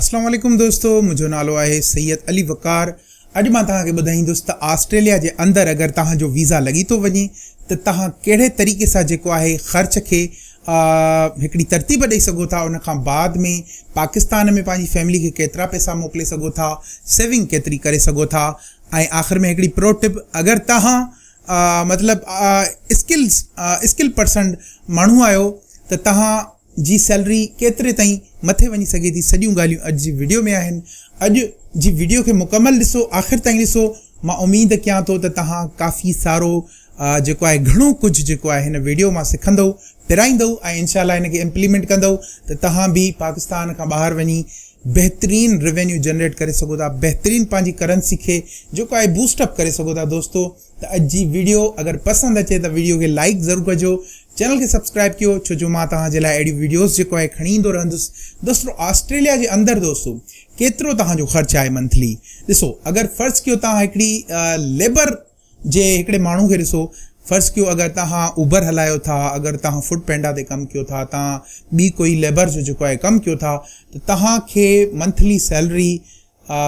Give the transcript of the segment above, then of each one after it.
اسلام عليڪم دوستو منهنجو نالو آهي سيد علي وقار اڄ مان توهان کي ٻڌائيندس ته آسٽريليا جي اندر اگر توهان جو ويزا لڳي ٿو وڃي ته توهان ڪهڙي طريقي سان جيڪو آهي خرچ کي هڪڙي ترتيب ڏئي سگهو ٿا ان کان بعد ۾ پاڪستان ۾ پنهنجي فيملي کي ڪيترا پئسا موڪلي سگهو ٿا سيونگ ڪيتري ڪري سگهو ٿا ۽ آخر ۾ هڪڙي پرو ٽپ اگر توهان مطلب اسڪلز اسڪل پرسن ماڻهو آهيو ته توهان جي سيلري ڪيتري تائين مٿي وڃي سگهي ٿي سڄيون ڳالهيون اڄ جي وڊيو ۾ آهن اڄ جي وڊيو کي مڪمل ڏسو آخر تائين ڏسو مان اميد ڪيان ٿو ته تهان ڪافي سارو جيڪو آهي گهڻو ڪجهه جيڪو آهي هن وڊيو مان سکندو پرائيندو ۽ انشاء الله ان کي امپليمنٽ ڪندو ته تهان به پاڪستان کان ٻاهر وڃي بهترين روينيو جنريٽ ڪري سگهو ٿا بهترين پنهنجي ڪرنسي کي جيڪو آهي بوسٽ اپ ڪري سگهو ٿا دوستو ته اڄ جي ويڊيو اگر پسند اچي ته ويڊيو کي لائيڪ ضرور ڪجو چينل کي سبسڪرائيب ڪيو ڇو جو مان توهان جي لاء اهڙيون ويڊيوز جيڪو آهي کڻي ايندو رهندس دوستو آسٽريليا جي اندر دوستو ڪيترو توهان جو خرچ آهي منٿلي ڏسو اگر فرض ڪيو توهان هڪڙي ليبر جي هڪڙي ماڻهو کي ڏسو فرض ڪيو اگر توهان اوبر هلايو ٿا اگر توهان فوڊ پينڊا تي ڪم ڪيو ٿا توهان ٻي ڪوئي ليبر جو جيڪو آهي ڪم ڪيو ٿا ته توهان کي منٿلي سيلري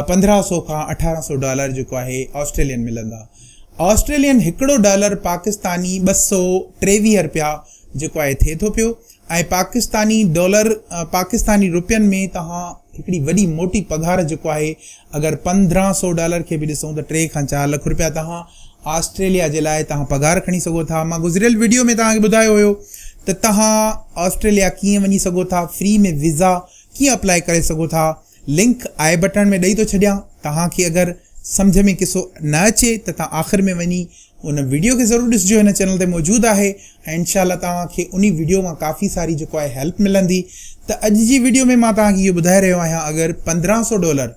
پندرهن سؤ کان اٺارهن سؤ ڊالر جيڪو آهي آسٽريلين ملندا. آسٽريلين هڪڙو ڊالر پاڪستاني ٻه سؤ ٽيويهه رپيا جيڪو آهي ٿئي ٿو پيو ۽ پاڪستاني ڊالر پاڪستاني رپين ۾ توهان هڪڙي وڏي موٽي پگهار جيڪو آهي اگر پندرهن سؤ ڊالر کي به ڏسون ته ٽي کان چار لک رپيا توهان آسٽريليا جي لاء توهان پگهار کڻي سگهو ٿا مان گذريل وڊيو ۾ توهان کي ٻڌايو هيو ته توهان آسٽريليا ڪيئن وڃي سگهو ٿا فري ۾ ويزا ڪيئن اپلائي ڪري سگهو ٿا لنڪ آئي بٽڻ ۾ ڏئي ٿو ڇڏيان توهان کي اگر سمجھ ۾ قصو نه اچي ته توهان آخر ۾ وڃي ان ويڊيو کي ضرور ڏسجو هن چينل تي موجود آهي ۽ انشاء الله توهان کي انهي ويڊيو مان ڪافي ساري جيڪو آهي هيلپ ملندي ته اڄ جي ويڊيو ۾ مان توهان کي اهو ٻڌائي رهيو آهيان اگر پندرهن سو ڊالر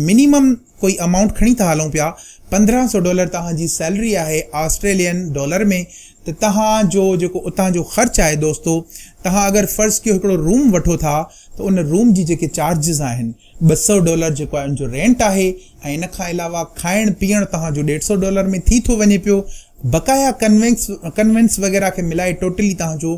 منيمم ڪوئي امائونٽ کڻي ٿا هلون پيا پندرهن سو ڊالر توهان جي سيلري آهي آسٽريلين ڊالر ۾ ته توهان جو جيڪو اتان جو خرچ آهي دوستو توهان اگر فرض ڪيو هڪڙو روم وٺو ٿا ته ان روم جي جيڪي چارجز آهن ٻه سؤ ڊالر جيڪو آهي ان جو رينٽ آهي ۽ ان کان علاوه کائڻ پيئڻ توهان جو ڏيڍ سؤ ڊالر ۾ ٿي ٿو وڃي پيو بقايا ڪنوينس ڪنوينس وغيره کي ملائي ٽوٽلي توهان جو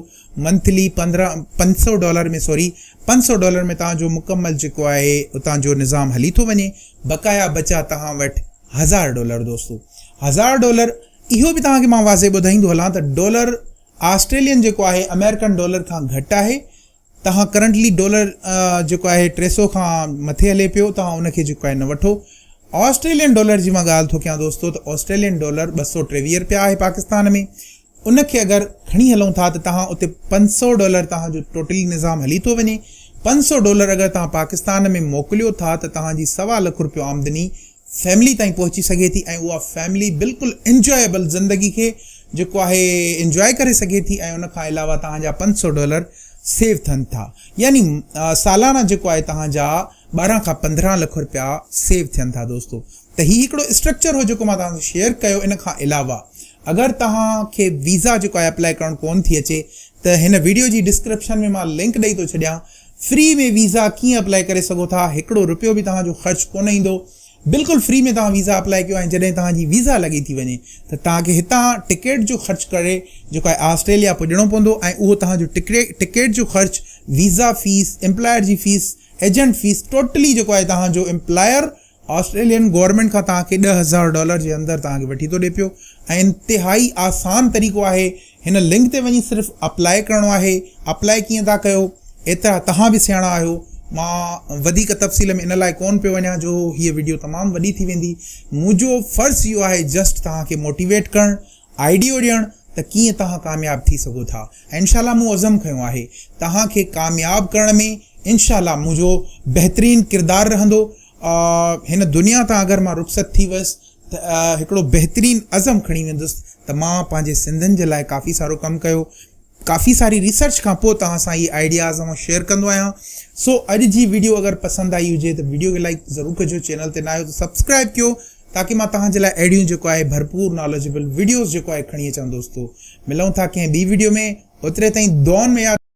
منٿلي پندرهن پنج سؤ ڊالر ۾ سوري پنج سؤ ڊالر ۾ توهان جو مڪمل جيڪو آهي اتان جو نظام هلي ٿو وڃي بقايا بچا توهان وٽ هزار ڊالر دوستو هزار ڊالر اهو به توهان کي مان واضح ٻڌائيندو هلان ته ڊالر آسٽريلين جيڪو آهي امريڪن ڊالر کان گهٽ آهي توهان ڪرنٽلي ڊالر جيڪو آهي ٽي سئو کان مٿي هلي پيو توهان ان کي جيڪو آهي نه وٺو آسٽريلين ڊالر جي مان ڳالهه ٿو ڪيان دوستو ته آسٽريلين ڊالر ٻه سؤ ٽيويهه رپيا آهي پاڪستان ۾ ان کي اگر کڻي هلون ٿا ته توهان اتي پنج سؤ ڊالر توهان جو ٽوٽلي نظام هلي ٿو وڃي پنج سؤ ڊالر اگر توهان پاڪستان ۾ موڪليو ٿا ته توهان جي سوا لک رپيو آمدني فيملي تائين پهچي سگهي ٿي ۽ اها فيملي بلڪل انجوائيبل زندگي کي جيڪو آهي انجواء ڪري سگهي ٿي ۽ ان کان علاوه توهان جا پنج سؤ ڊالر سيو ٿين ٿا يعني سالانه جيڪو آهي توهان جا ٻارهن کان پندرهن لک روپيا سيو ٿين ٿا دوستو ته هي هڪڙو اسٽرڪچر هو جيڪو مان توهان سان شيئر ڪيو ان کان علاوه اگر توهان کي ويزا جيڪو آهي اپلائي ڪرڻ ڪون ٿي اچي ته هن ويڊيو جي ڊسڪرپشن ۾ مان لنڪ ڏئي ٿو ڇڏيان فري ۾ ويزا ڪيئن اپلائي ڪري سگهو ٿا، هڪڙو رپيو به توهان جو خرچ ڪونه ايندو، بلڪل فري ۾ توهان ويزا اپلائي ڪيو ۽ جڏهن توهان جي ويزا لڳي ٿي وڃي ته توهان کي هتان ٽڪيٽ جو خرچ ڪري جيڪو آهي آسٽريليا پڄڻو پوندو ۽ اهو توهان جو ٽڪيٽ جو خرچ، ويزا فيس، امپلائر جي فيس، ايجنٽ فيس ٽوٽلي جيڪو آهي توهان جو امپلائر آسٽريلين گورنمينٽ کان توهان کي ڏهه هزار ڊالر جي اندر توهان کي وٺي ٿو ڏي پيو ۽ انتهائي آسان طريقو آهي هن لنڪ تي وڃي صرف اپلائي ڪرڻو آهي اپلائي ڪيئن ٿا ڪيو ايترا توهان به سياڻا آهيو مان وڌيڪ تفصيل ۾ ان لاء ڪون پيو وڃان جو هيء وڊيو تمام وڏي ٿي ويندي منهنجو فرض اهو آهي جسٽ توهان کي موٽيويٽ ڪرڻ آئيڊيو ڏيڻ ته ڪيئن توهان ڪامياب ٿي سگهو ٿا ۽ انشاء الله مون عزم کنيو آهي توهان کي ڪامياب ڪرڻ ۾ انشاء الله منهنجو بهترين ڪردار رهندو هن دنيا تان اگر مان رخصت ٿي ويس ته هڪڙو بهترين عزم کڻي ويندس ته مان پنهنجي سنڌين جي لاء ڪافي سارو ڪم ڪيو ڪافي ساري ريسرچ کان پوء توهان سان هي آئيڊياز آئون شيئر ڪندو آهيان سو اڄ جي ويڊيو اگر پسند آئي هجي ته ويڊيو کي لائڪ ضرور ڪجو چينل تي نه آهيو ته سبسڪرائب ڪيو تاڪي مان توهان جي لاء اهڙيون جيڪو آهي ڀرپور ناليجبل وڊيوز جيڪو آهي کڻي اچان دوستو ملون ٿا ڪنهن ٻي وڊيو ۾ اوتري تائين دعائن ۾ ياد